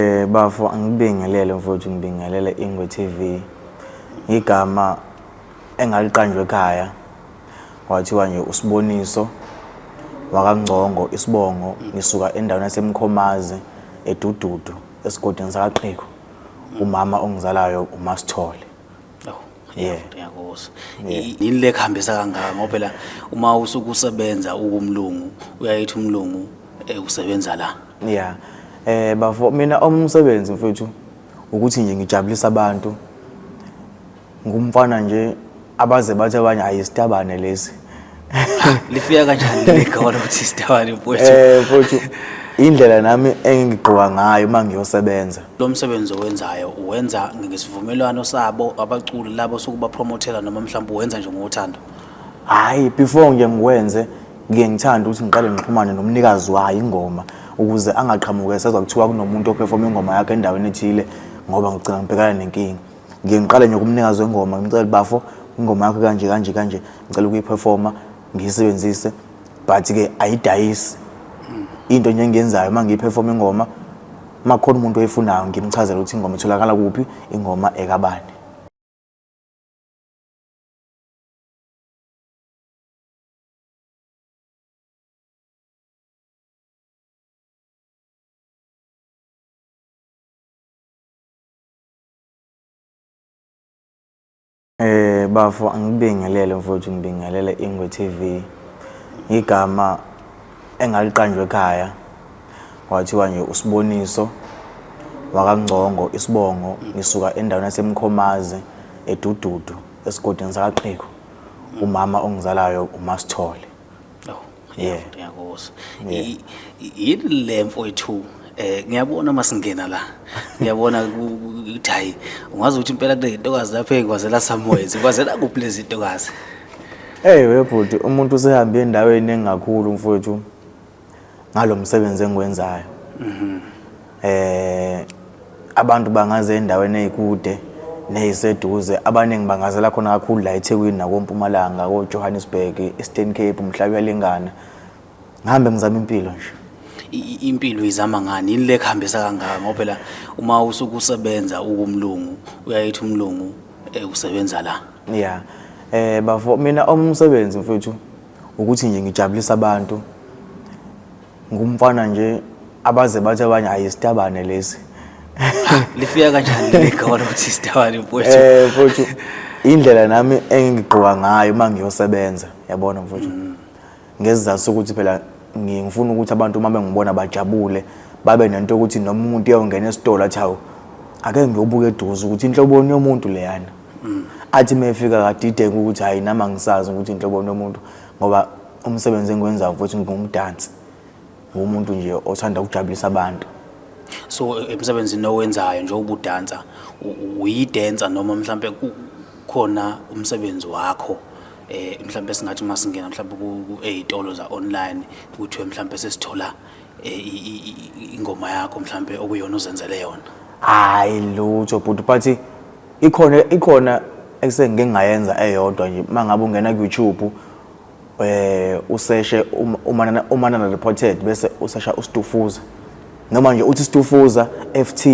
Eh bafo angibingelele mfowethu ngibingelele Ingwe TV. Igama engaliqanjwe ekhaya kwathiwa nje usiboniso wakangcongo isibongo ngisuka endaweni yasemkhomazi edududu esigodini sakaqhiko umama ongizalayo umasithole Yeah. Ngiyakuza. Yini le kuhambisa kangaka ngoba phela uma usuku usebenza ukumlungu uyayithi umlungu eh, usebenza la. Yeah. Eh bafo mina umsebenzi mfethu ukuthi nje ngijabulisa abantu. Ngumfana nje abaze bathi abanye ayisitabane lesi. lifika kanjani legolo ukuthi sidawale mfowethu eh mfowethu indlela nami engigqoka ngayo uma ngiyosebenza lo msebenzi owenzayo uwenza ngesivumelwano sabo abaculi labo sokuba promothela noma mhlawumbe uwenza nje ngothando hayi before nje ngikwenze ngike ngithanda ukuthi ngiqale ngixhumane nomnikazi wayo ingoma ukuze angaqhamuke sezwa kuthiwa kunomuntu ophefoma ingoma yakhe endaweni ethile ngoba ngigcina ngibhekana nenkinga ngiye ngiqale nje kumnikazi wengoma ngimcela bafo ingoma yakho kanje kanje kanje ngicela ukuyiperforma ngiyisebenzise but ke ayidayisi into nje engiyenzayo uma ngiyiperforma ingoma uma khona umuntu oyifunayo ngimchazela ukuthi ingoma itholakala kuphi ingoma ekabani Eh bafo angibingelele mfowethu ngibingelele Ingwe TV. Igama engaliqanjwe ekhaya kwathiwa nje usiboniso wakangcongo isibongo ngisuka endaweni yasemkhomazi edududu esigodini sakaqhiko umama ongizalayo umasithole. yeah ngiyakuzwa yini le mfowethu eh ngiyabona masingena la ngiyabona ukuthi hayi ungazi ukuthi impela kule ntokazi lapha ekwazela samoya zikwazela kuphi lezi ntokazi hey webhuti umuntu usehambe endaweni engakhulu mfowethu ngalomsebenzi engiwenzayo mhm eh abantu bangaze endaweni ezikude neziseduze abaningi bangazela khona kakhulu la eThekwini nakoMpumalanga koJohannesburg eStern Cape umhlaba uyalingana ngihambe ngizama impilo nje impilo izama ngani yini le kuhambisa kangaka ngoba phela uma usuke usebenza ukumlungu uyayithi umlungu eh, usebenza la yeah eh bafo mina omsebenzi mfethu Ukuthi nje ngijabulisa abantu ngumfana nje abaze bathi abanye hayi isitabane lesi lifika kanjani ligawala ukuthi isitabane mfowethu eh mfowethu indlela nami engigqoka ngayo uma ngiyosebenza yabona mfowethu mm. ngezizathu sokuthi phela ngifuna ukuthi abantu uma bengibona bajabule babe nento yokuthi noma umuntu uyawungena esitolo athi hawu ake ngiyobuka eduze ukuthi inhloboni yomuntu leyana athi mefika kadideka ukuthi hayi nami angisazi ukuthi inhlobo nomuntu ngoba umsebenzi engiwenzayo futhi ngingumdansi ngumuntu nje othanda ukujabulisa abantu so emsebenzini owenzayo nje ubudansa uyidansa noma mhlambe khona umsebenzi wakho eh mhlambe singathi uma singena mhlambe ku-ey'tolo za-online kuthiwe mhlambe sesithola eh, ingoma yakho mhlambe okuyona uzenzele yona hayi lutho bhuti but ikhona ikhona ekusengike ngayenza eyodwa nje mangabe ungena ku YouTube eh useshe umanana umanana reported bese usesha ustufuza noma nje uthi stufuza FT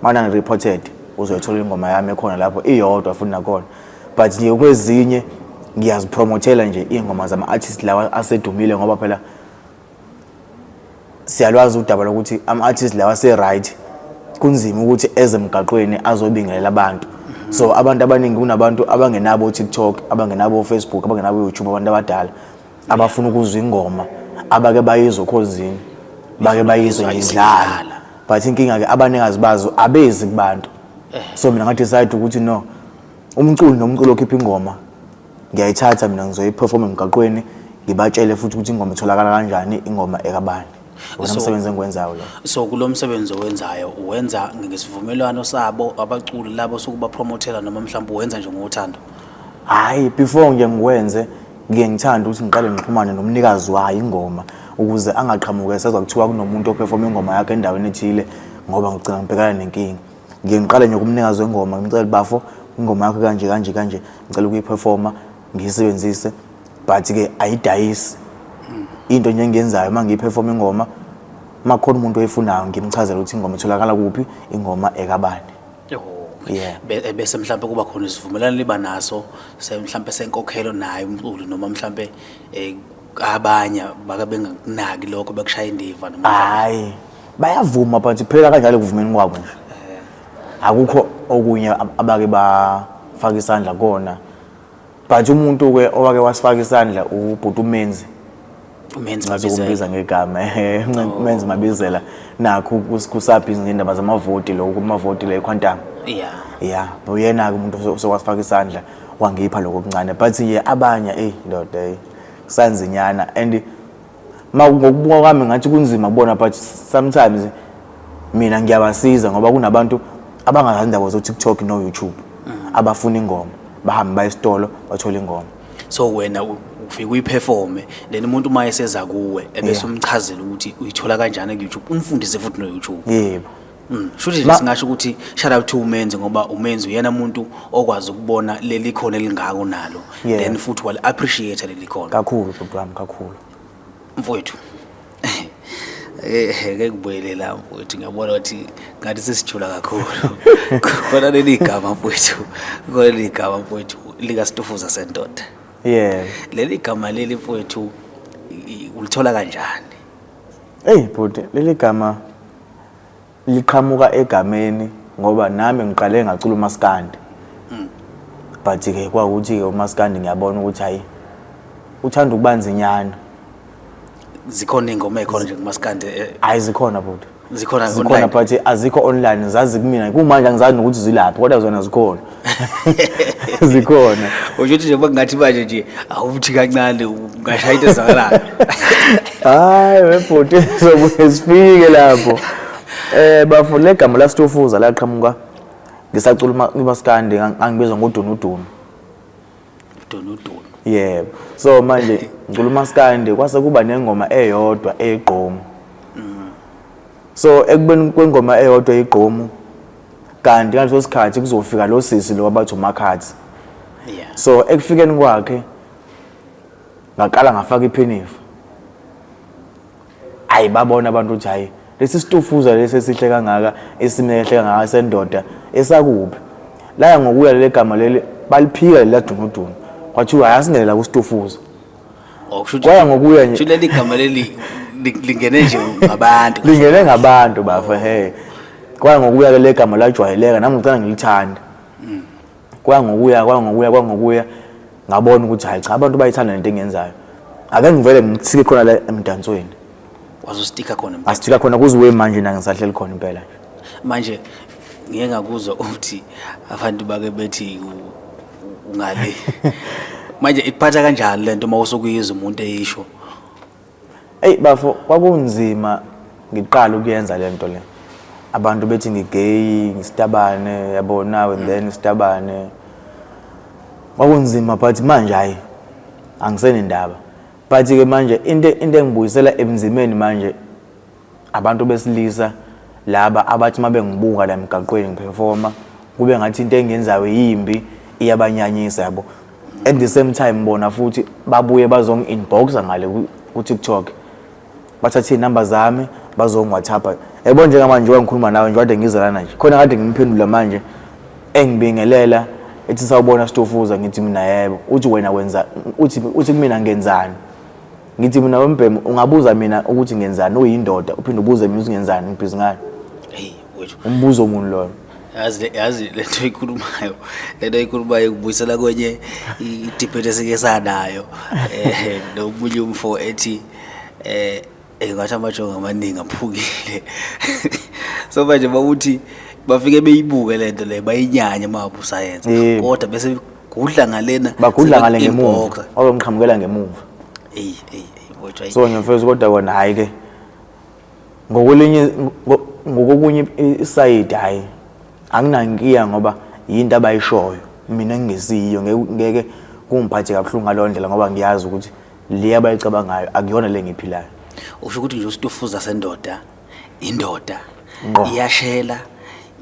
manana reported uzoyithola ingoma yami ekhona lapho iyodwa futhi nakhona but nje kwezinye ngiyazipromothela nje ingoma zama artist lawa asedumile ngoba phela siyalwazi udaba lokuthi ama-artist lawa ase-right kunzima ukuthi eze emgaqweni azobingelela abantu so abantu abaningi kunabantu abangenabo o-tiktok abangenabo o-facebook abangenabo o-youtube abantu abadala abafuna ukuzwa ingoma abake bayizwe okhozini bake bayizwe ngidlala but inkinga-ke abaningi azibazo abezi kubantu so mina ngadecide ukuthi no umculi nomculi okhipha ingoma ngiyayithatha mina ngizoyiperforma emgaqweni ngibatshele futhi ukuthi ingoma itholakala kanjani ingoma ekabani wona So- msebenzi engiwenzayo lo so kulo msebenzi owenzayo uwenza ngesivumelwano sabo abaculi labo sokubapromothela noma mhlawumbe uwenza nje ngothando hhayi before nje ngiwenze ngiye ngithanda ukuthi ngiqale ngixhumane nomnikazi wayo ingoma ukuze angaqhamuke sezwa kuthiwa kunomuntu ophefoma ingoma yakhe endaweni ethile ngoba ngigcina ngibhekana nenkinga ngiye ngiqale nje kumnikazi wengoma ngimcela bafo ingoma yakho kanje kanje kanje ngicela ukuyiperforma ngiyisebenzise but-ke ayidayisi into nje engiyenzayo uma ngiyiperforma ingoma uma khona umuntu oyifunayo ngimchazela ukuthi ingoma itholakala kuphi ingoma ekabani Yeah. Be- eh, bese mhlawumbe kuba khona isivumelwano liba naso se- mhlawumbe senkokhelo naye umculi noma mhlawumbe eh, abanye bake bengakunaki lokho bekushaye indiva noma hayi bayavuma but phela kanjalo kuvumeni kwabo nje akukho okunye ab- abake bafaka isandla kona but umuntu ke owake wasifaka isandla ubhuti umenzi umenzi ngathi mabizela ukumbiza ngegama eh, Ncen- umenzi mabizela nakho kus- kusaphi izindaba zamavoti lokho kumavoti le quantum ya ya uyena-ke umuntu oso- osowasifaka isandla wangipha lokho okuncane but ye abanye eyi ndoda eyi kusanzinyana and Ma ngokubuka kwami ngathi kunzima kubona but sometimes mina ngiyabasiza ngoba kunabantu abangazazi indaba zo-tiktok no-youtube abafuna ingoma bahambe baye esitolo bathole ingoma so wena u- ufike uyiphefome then umuntu uma eseza kuwe ebese Yeah. umchazela ukuthi uyithola kanjani ku-youtube umfundise futhi no-youtube yebo Mm. Shuthi nje singasho ukuthi shout out to umenzi ngoba umenzi uyena umuntu okwazi ukubona leli khona elingako nalo yeah. then futhi wali appreciate leli khona kakhulu bhuti wami kakhulu mfowethu eh ke kubuyelela mfowethu ngiyabona ukuthi ngathi sesijula kakhulu khona leli gama mfowethu khona leli gama mfowethu lika stufuza sendoda yeah leli gama leli mfowethu ulithola kanjani hey bhuti leli gama liqhamuka egameni ngoba nami ngiqale ngacula umaskandi mm. but ke kwawukuthi-ke umaskandi ngiyabona ukuthi hhayi uthanda ukuba nzinyana zikhona iy'ngoma ey'khona nje kumaskandi eh, hhayi zikhona bhuti zikhona zikhona but azikho online zazi kumina kumanje angizazi nokuthi zilaphi kodwa zona zikhona zikhona usho ukuthi njengoba kungathi manje nje awuthi kancane ungashaya into ezakalayo hayi webhuti sobuye sifike lapho eh bafo legama la Stufuza laqhamuka ngisacula umaskandi angibizwa ngodunudunu donodolo yebo so manje ngicula umaskandi kwase kuba nengoma eyodwa egqomu so ekubeni kwengoma eyodwa igqomu kanti ngaleso sikhathi kuzofika lo sisi lo abathi umakhathi yeah so ekufikeni kwakhe ngaqala ngafaka iphinifa ayi babona abantu ukuthi hayi lesi situfuza lesi esihle kangaka esimehle kangaka sendoda esakuphi laya ngokuya leli gama leli baliphika leli ladunudunu kwathiwa hayi asingene la kusitufuza Oh, kusho ukuthi- Kwaya ngokuya nje. kusho leli gama leli li- lingene nje ngabantu lingene ngabantu bafa he kwaya ngokuya ke legama lajwayeleka nami ngicela ngilithanda kwangokuya kwangokuya kwangokuya ngabona ukuthi hayi cha abantu bayithanda lento engiyenzayo ake ngivele ngisike khona la emdansweni wazostika khona astika khona kuziwe manje na ngisahleli khona impela manje ngeke ngakuzwa ukuthi abantu bake bethi ungale manje ikuphatha kanjani lento uma usukuyizwa umuntu eyisho Eyi bafo kwakunzima ngiqala ukuyenza le nto le abantu bethi ngigeyi ngisitabane yabo nawe then isitabane kwakunzima but manje hhayi angisenendaba but-ke manje into into engibuyisela ebunzimeni manje Abantu besilisa laba abathi uma bengibuka la emgaqweni ngiphefoma kube ngathi into engenzayo yimbi iyabanyanyisa yabo at the same time bona futhi babuye bazongi-inboxa ngale ku-tiktok bathathe iy'namba zami bazongi-whatsapp yabo njengamanje njengoba ngikhuluma nawe nje kade ngiza lana nje khona kade ngimphendula manje engibingelela ethi sawubona sitofuza ngithi mina yebo uthi wena wenza uthi uthi kumina ngenzani Ngithi mina wembhemu ungabuza mina ukuthi ngenzani uyindoda uphinde ubuze mina ukuthi ngenzani ngibhizi ngani. Hey wethu. Umbuzo muni loyo? yazi yazi lento ikhulumayo lento ikhulumayo ikubuyisela kwenye idebate esike sanayo eh nomunye umfo ethi eh engathi amajongo amaningi aphukile so manje bawuthi bafike beyibuke lento le bayinyanye mabusayenza kodwa bese gudla ngalena bagudla ngale ngemuva wabemqhamukela ngemuva eyi eyi kodwa so nyamfethu kodwa kona hayi ke ngokulinye ngokokunye isayidi hayi anginankiya ngoba yinto abayishoyo mina ngingesiyo ngeke kungiphathe kabuhlungu ngaleyo ndlela ngoba ngiyazi ukuthi le abayicabangayo akuyona le ngiyiphilayo usho ukuthi nje usitufuza sendoda indoda iyashela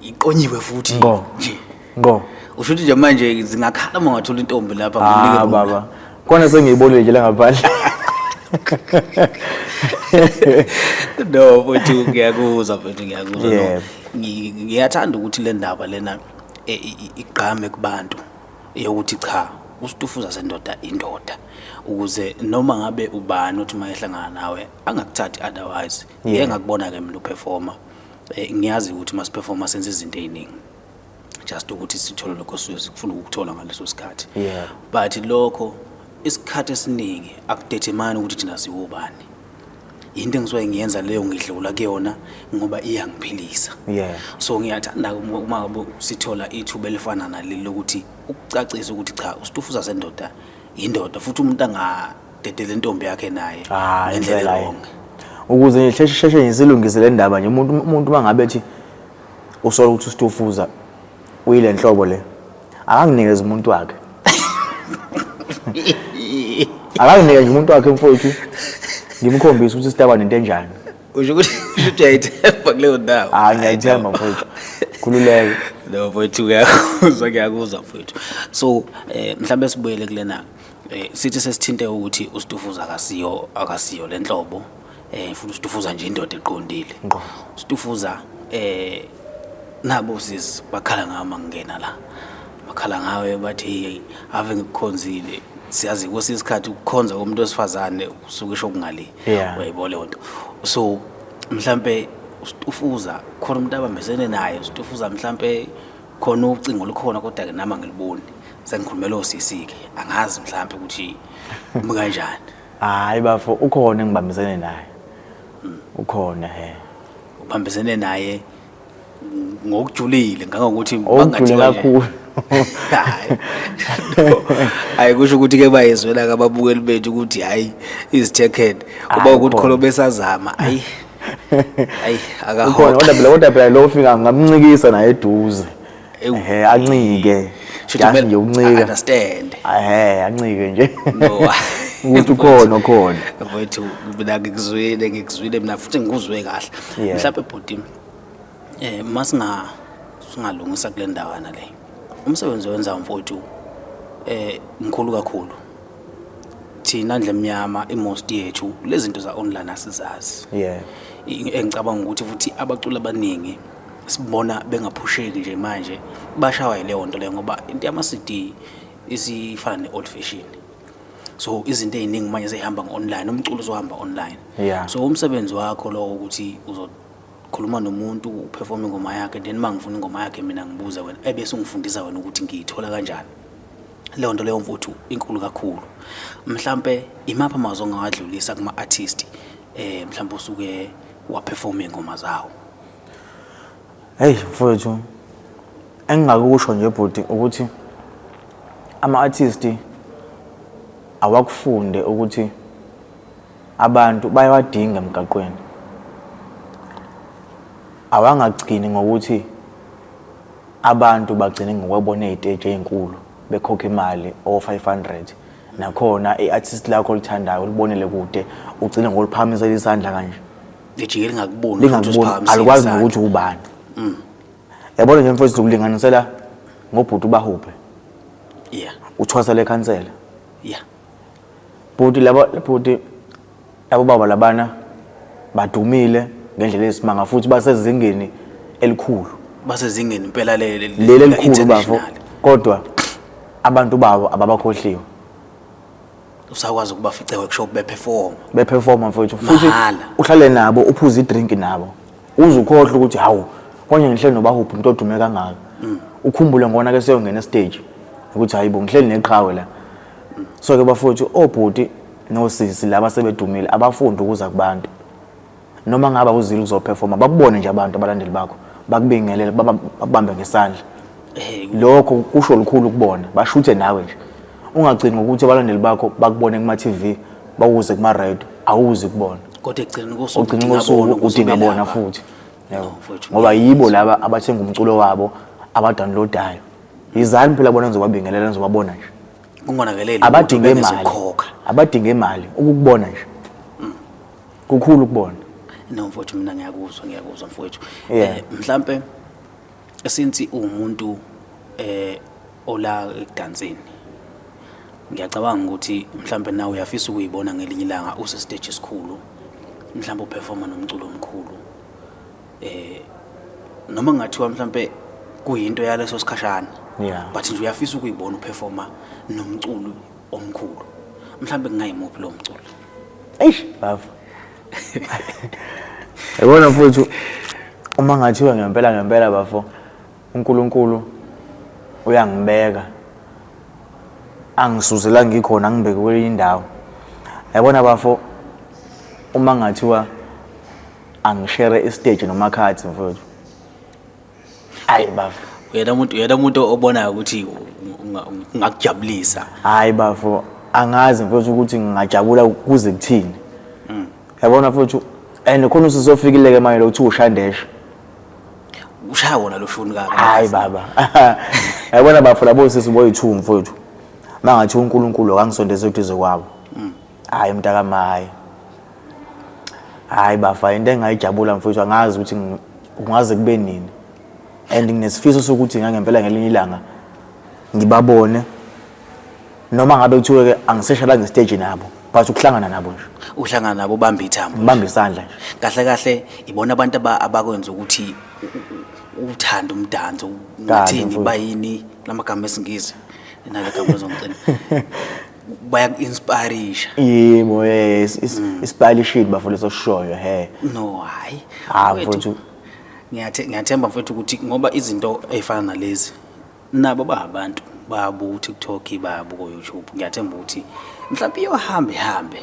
iqonyiwe futhi nje ngqo usho ukuthi nje manje zingakhala uma ngathola intombi lapha ah baba kona sengiyibonile nje langaphandle no futhi ngiyakuzwa futhi ngiyakuzwa no ngiyathanda ukuthi le ndaba lena e, igqame kubantu eyokuthi cha uStufuza sendoda indoda ukuze noma ngabe ubani othi uma ehlangana nawe angakuthathi otherwise Yeah. yeah. ngakubona ke mina uperforma eh, ngiyazi ukuthi uma siperforma senza izinto eziningi just ukuthi sithole lokho sisuke sikufuna ukuthola ngaleso sikhathi Yeah. but lokho isikhathi esiningi akudetermine ukuthi thina siwubani yinto engisuke ngiyenza leyo ngidlula kuyona ngoba iyangiphilisa yeah so ngiyathanda uma ngabe sithola ithuba elifana naleli lokuthi ukucacisa ukuthi cha usitufu sasendoda yindoda futhi umuntu angadedele intombi yakhe naye ah, ngendlela wrong ukuze ngisheshe sheshe ngizilungise le ndaba nje umuntu umuntu mangabe ethi usola ukuthi usitufuza uyile nhlobo le akanginikeze umuntu wakhe akanginike nje umuntu wakhe mfowethu ngimkhombise ukuthi sitaba nento enjani usho ukuthi usho ukuthi uyayithemba kuleyo ndawo hayi ngiyayithemba mfowethu khululeke no mfowethu uyakuzwa ngiyakuzwa mfowethu so eh mhlawumbe sibuyele kulena eh sithi sesithinte ukuthi uStufuza akasiyo akasiyo lenhlobo eh futhi ustufuza nje indoda eqondile ngqo ustufuza eh nabo sis bakhala ngama ngingena la bakhala ngawe bathi ave ngikukhonzile siyazi kwesinye isikhathi ukukhonza komuntu wesifazane usuke esho kungali Yeah. uyayibona leyo nto so mhlampe ustufuza khona umuntu abambesene naye ustufuza mhlampe khona ucingo olukhona kodwa ke nami angiliboni sengikhulumela osisi-ke angazi mhlampe ukuthi kumi kanjani hayi bafo ukhona engibambisene naye ukhona he ubambisene naye ngokujulile ngangokuthi okujule kakhulu hayi kusho ukuthi ke bayezwela kababukeli bethu ukuthi hayi izithekhead uba ukuthi khona besazama hayi hayi akahola kodwa phela kodwa phela lo fika ngamncikisa naye eduze Ewu. ehe ancike Shuthi just kumele nje uncika understand. ehe ancike nje No. ukuthi ukhona okhona mfowethu mina ngikuzwile ngikuzwile mina futhi ngikuzwe kahle Yeah. mhlawumbe bhuti um uma singa singalungisa kule ndawana le umsebenzi owenzayo mfowethu um mkhulu kakhulu thina ndle mnyama imost yethu lezi zinto za-online asizazi yeah I- engicabanga ukuthi futhi abaculi abaningi sibona bengaphusheki nje manje bashawa yileyo nto leyo ngoba into yama-cd isifana ne-old fashion so izinto ey'ningi manje seyihamba ngo-online umculo uzohamba online yeah. so umsebenzi wakho lowo ukuthi uzokhuluma nomuntu uperforme ingoma yakhe then uma ngifuna ingoma yakhe mina ngibuza wena ebese ungifundisa wena ukuthi ngiyithola kanjani leyo nto leyo mfuthu inkulu kakhulu mhlampe imaphi amazwi ongawadlulisa kuma-artist um eh, mhlawumpe usuke waperforme ingoma zawo Hey mfowethu engingakusho nje bhuti ukuthi ama artist awakufunde ukuthi abantu bayawadinga emgaqweni awangagcini ngokuthi abantu bagcine ngokwabona eziteji ezinkulu bekhokha imali o 500 nakhona iartist lakho olithandayo ulibonele kude ugcine ngoliphakamisa isandla kanje lijike lingakuboni lingakuboni alikwazi nokuthi ubani mm. yabona nje mfowethu ukulinganisela ngobhuti ubahuphe yeah uthwasa lekhansela yeah bhuti labo bhuti labo baba labana badumile ngendlela esimanga futhi basezingeni elikhulu basezingeni impela leli leli elikhulu bafo kodwa abantu babo ababakhohliwe usakwazi ukubafica workshop beperform beperforma mfowethu futhi Mahhala. uhlale nabo uphuze idrink nabo uze ukhohlwe ukuthi hawu konje ngihleli nobahuphi umuntu odume kangaka mm. ukhumbule ngona ke seyongena estage ukuthi hayi bo ngihleli neqhawe la so ke bafowethu obhuti nosisi laba sebedumile abafundi ukuza kubantu noma ngaba uzile uzoperforma bakubone nje abantu abalandeli bakho bakubingelele baba- bakubambe ngesandla Eh, lokho kusho lukhulu kubona bashuthe nawe nje ungagcini ngokuthi abalandeli bakho bakubone kuma-tv bawuze kuma-radio awuzi kubona kodwa ekugcineni kosuku ogcina udinga kosuku bona ukuthi udinga bona ubelapha. futhi yabo. No, mfowethu, ngoba ngeke yibo laba abathenga umculo wabo abadownloadayo yizani phela bona ngizobabingelela ngizobabona nje kungonakeleli abadinge lutho imali bengezokhokha. abadinge imali ukukubona nje kukhulu kubona no mfowethu mina ngiyakuzwa ngiyakuzwa mfowethu yeah. eh, mhlambe since umuntu eh ola ekudanseni ngiyacabanga ukuthi mhlambe nawe uyafisa ukuyibona ngelinye ilanga use stage esikhulu mhlambe uperforma nomculo omkhulu eh noma ngathiwa mhlambe kuyinto yaleso sikhashana yeah but nje uyafisa ukuyibona uperforma nomculo omkhulu mhlambe kungayimuphi lo mculo eish bafo yabona mfowethu uma ngathiwa ngempela ngempela bafo uNkulunkulu uyangibeka angisuze la ngikhona ngibeke kwenye indawo yabona bafo uma ngathiwa angishere istage nomakhathi mfowethu hayi bafo uyena umuntu uyena umuntu obonayo ukuthi unga- ungakujabulisa hayi bafo angazi mfowethu ukuthi ngingajabula kuze kuthini yabona mfowethu and khona usuzofikile-ke manje lokuthiwa ushandesha ushaya wona lo shuni kaka hayi baba yabona bafo labo sisi boyi-two mfowethu uma ngathi unkulunkulu akangisondeze eduze kwabo hayi mntakama hayi hayi bafa into engayijabula mfowethu angazi ukuthi ngi- kungaze kube nini and nginesifiso sokuthi ngangempela ngelinye ilanga ngibabone noma ngabe kuthiwe ke angiseshala ngestage nabo but ukuhlangana nabo nje uhlangana nabo ubamba ithambo ngibambe isandla nje kahle kahle ibona abantu aba- abakwenza ukuthi u- u- uthande umdanso ngathini mfowethu. bayini lamagama esingisi nale gama lezomcimbi bayaku-inspirisha yebo eh, is- is- isipalishile bafo leso sishoyo he no hhayi Ah, Mfowethu, mfowethu. ngiyathe- ngiyathemba mfethu ukuthi ngoba izinto ey'fana nalezi nabo bahabantu bayabuka utiktok bayabuka oyoutube ngiyathemba ukuthi mhlawumpe iyohambe ihambe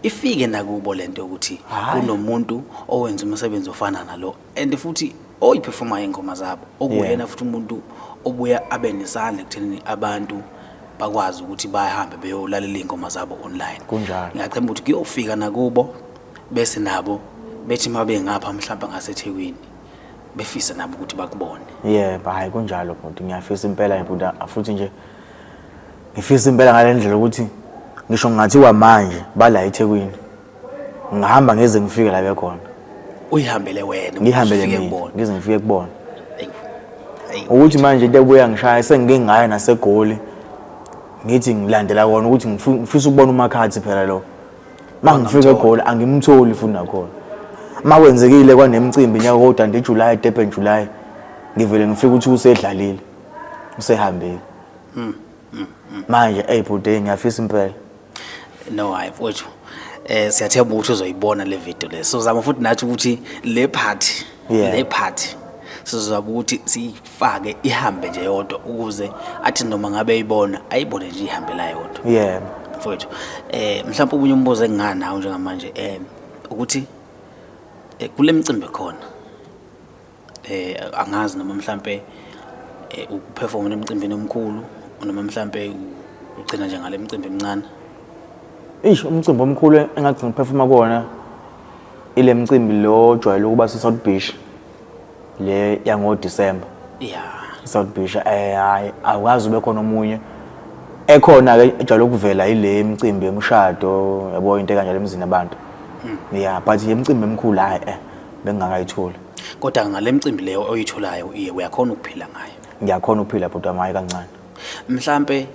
ifike nakubo le nto yokuthi kunomuntu owenza umsebenzi ofana nalo and futhi oyiperforma ingoma zabo okuyena futhi umuntu obuya abe nesandla ekuthenini abantu bakwazi ukuthi bahambe beyolalela ingoma zabo online kunjalo ngiyacemba ukuthi kuyofika nakubo bese nabo bethi uma bengapha mhlawumbe ngasethekwini befisa nabo ukuthi bakubone yebo hayi kunjalo bhuti ngiyafisa impela bhuti futhi nje ngifisa impela ngale ndlela ukuthi ngisho ngathiwa manje bala ethekwini ngihamba ngeze ngifike la bekhona uyihambele wena ngihambele ufike mina kubona. ngize ngifike kubona Eyi, eyi. ukuthi manje into ebuya ngishaya sengike ngayo nasegoli ngithi ngilandela kona ukuthi ngifu- ngifisa ukubona umakhathi phela lo ma ngifika egoli angimtholi futhi nakhona ma kwenzekile kwanemcimbi nyaka kodwa nje july durban july ngivele ngifike ukuthi usedlalile usehambile manje eyi bhuti ngiyafisa impela no hayi mfowethu eh siyathemba ukuthi uzoyibona le video le so zama futhi nathi ukuthi le part Yeah. le part sizozama ukuthi siyifake ihambe nje yodwa ukuze athi noma ngabe eyibona ayibone nje ihambe la yodwa yeah mfowethu eh mhlawumbe ubunye umbuzo enginganawo njengamanje eh ukuthi eh, kule mcimbi khona eh angazi noma mhlambe eh, ukuperforma emcimbini omkhulu noma mhlambe ugcina nje ngale mcimbi emncane ish umcimbi omkhulu engathi ngiphefuma kuwona ile mcimbi lo ojwayele ukuba se-south beach le yangodisemba ya i-south beach eh hayi awukazi ube khona omunye ekhona-ke ejwayele ukuvela yile mcimbi yemshado yabo into ekanjalo emzini abantu hmm. ya but ye mcimbi emkhulu hhayi eh bengingakayitholi Kodwa ngale mcimbi leyo oyitholayo iye uyakhona ukuphila ngayo. Ngiyakhona ukuphila bhuti wami hhayi kancane. Mhlampe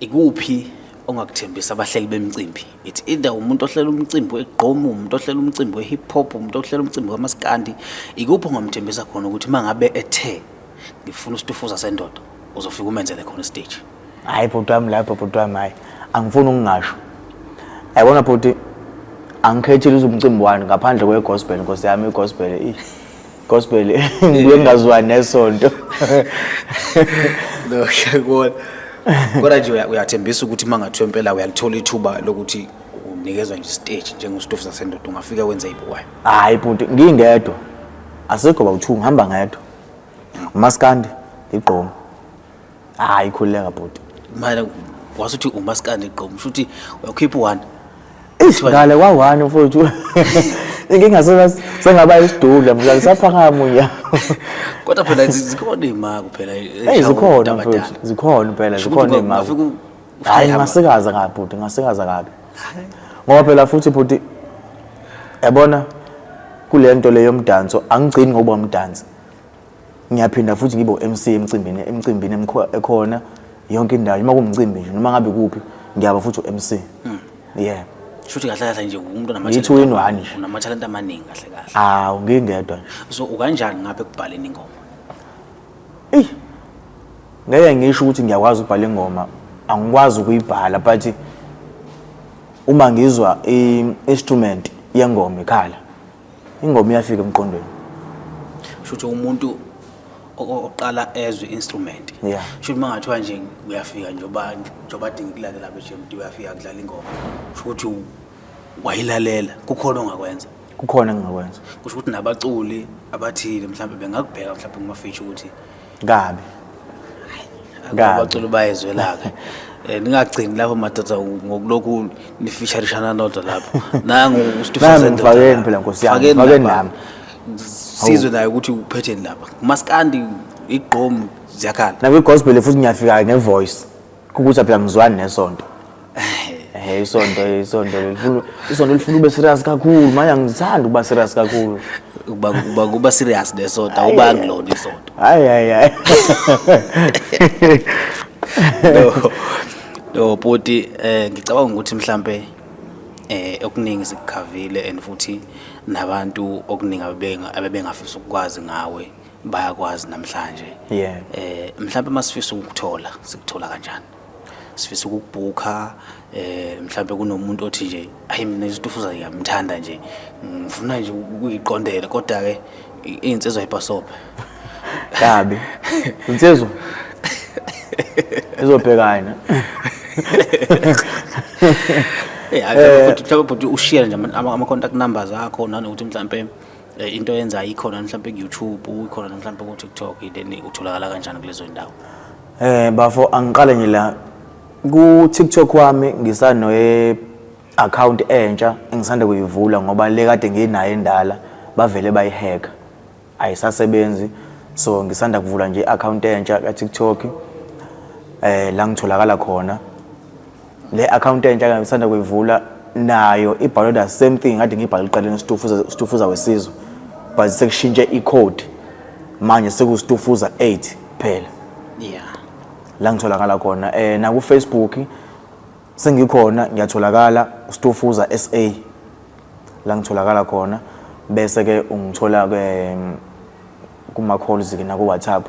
ikuphi ongakuthembisa abahleli bemicimbi? It's either umuntu ohlela umcimbi wegqom, umuntu ohlela umcimbi we-hip hop, umuntu ohlela umcimbi wamaskandi. Ikuphi ongamthembisa khona ukuthi uma ngabe ethe ngifuna usitufuza sendoda uzofika umenzele khona istage hayi bhuti wami lapho bhuti wami hayi angifuni ukungasho yabona bhuti angikhethile uzumcimbi wani ngaphandle kwegospel nkosi yami igospel i gospel ngibuye ngingazwani nesonto no ngiyakubona kodwa nje uyathembisa ukuthi uma ngathiwa impela uyalithola ithuba lokuthi unikezwa nje stage njengostofu sasendoda ungafika wenze ibuwayo hayi bhuti ngingedwa asikho bawuthu ngihamba ngedwa umaskandi igqomo hayi khululeka bhuti manje wasuthi umaskandi igqomo shuthi uyakhipha one Eish ngale kwa one mfowethu inkinga sengaba isidudla mfowethu ngisaphakama unya kodwa phela zikhona imako phela hey zikhona mfowethu zikhona phela zikhona imako hayi ngasikaza kabi bhuti ngasikaza kabi ngoba phela futhi bhuti yabona kule nto le yomdanso angigcini ngokuba umdansi ngiyaphinda futhi ngibe u-MC emcimbini emcimbini ekhona yonke indawo noma kumcimbi nje noma ngabe kuphi ngiyaba futhi u-MC hmm. yeah shuthi kahle kahle nje umuntu unamathalenta amaningi kahle kahle hawu ngingedwa so ukanjani ngapha ekubhaleni ingoma eyi ngeke ngisho ukuthi ngiyakwazi ukubhala ingoma angikwazi ukuyibhala but uma ngizwa i-instrument yengoma ikhala ingoma iyafika emqondweni shuthi umuntu oqala ezwe instrument yeah. shuthi mangathiwa nje uyafika njengoba njengoba adinga ukulalela beJMD uyafika kudlala ingoma shuthi wayilalela kukhona ongakwenza kukhona engingakwenza kusho ukuthi nabaculi abathile mhlawumbe bengakubheka mhlawumbe kuma feature ukuthi kabi Kabi. abaculi bayezwelaka Eh, ningagcini lapho madoda ngokulokhu nifisharishana nodwa lapho nangu Nami uStifazwe ngifakeni phela, Nkosi yami, ngifakeni nami. sizwe naye ukuthi uphetheni lapha maskandi igqomu ziyakhala nakwi-gospel futhi ngiyafika ngevoice Khukutha phela ngizwani nesonto. Eh isonto isonto lifuna isonto lifuna ube serious kakhulu manje angithandi ukuba serious kakhulu. Uba uba kuba serious nesonto awubangi lona isonto. Hayi hayi hayi. No. No bhuti eh ngicabanga ukuthi mhlambe eh okuningi sikukhavile and futhi nabantu okuningi abebenga abebengafisa ukwazi ngawe bayakwazi namhlanje yeah. eh mhlawumbe masifisa ukuthola sikuthola kanjani sifisa ukubhukha eh mhlawumbe kunomuntu othi nje ayi mina isitufuza ngiyamthanda nje ngifuna nje ukuyiqondela kodwa ke insizwa ibhasobhe kabi insizwa izobhekana Yeah, eh, futhi mhlawumbe bhuti ushare nje ama contact numbers akho nanokuthi mhlawumbe Eh, into yenza ikhona mhlawumbe ku-youtube ikhona mhlawumbe ku-tiktok then utholakala kanjani kulezo ndawo eh bafo angiqale nje la ku-tiktok wami ngisanoye-akhawunti entsha engisanda kuyivula ngoba le kade nginayo endala bavele bayiheka ayisasebenzi so ngisanda kuvula nje i-akhawunti entsha ka-tiktok eh la ngitholakala khona le account entsha kanye ngisanda kuyivula nayo ibhalwe the same thing ngathi ngibhale iqaleni stufuza stufuza wesizwe but sekushintshe icode manje sekustufuza 8 phela yeah la ngitholakala khona eh na ku Facebook sengikhona ngiyatholakala stufuza SA la ngitholakala khona bese ke ungithola ke mm, kuma calls ke na ku WhatsApp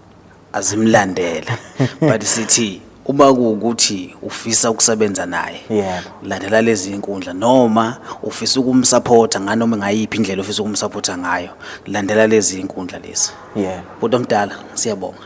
azimlandele but sithi uma kuwukuthi ufisa ukusebenza naye Yebo. landela lezi inkundla noma ufisa ukumsupporta nganoma ngayiphi indlela ofisa ukumsupporta ngayo landela lezi inkundla lezi yebo bhuti omdala siyabonga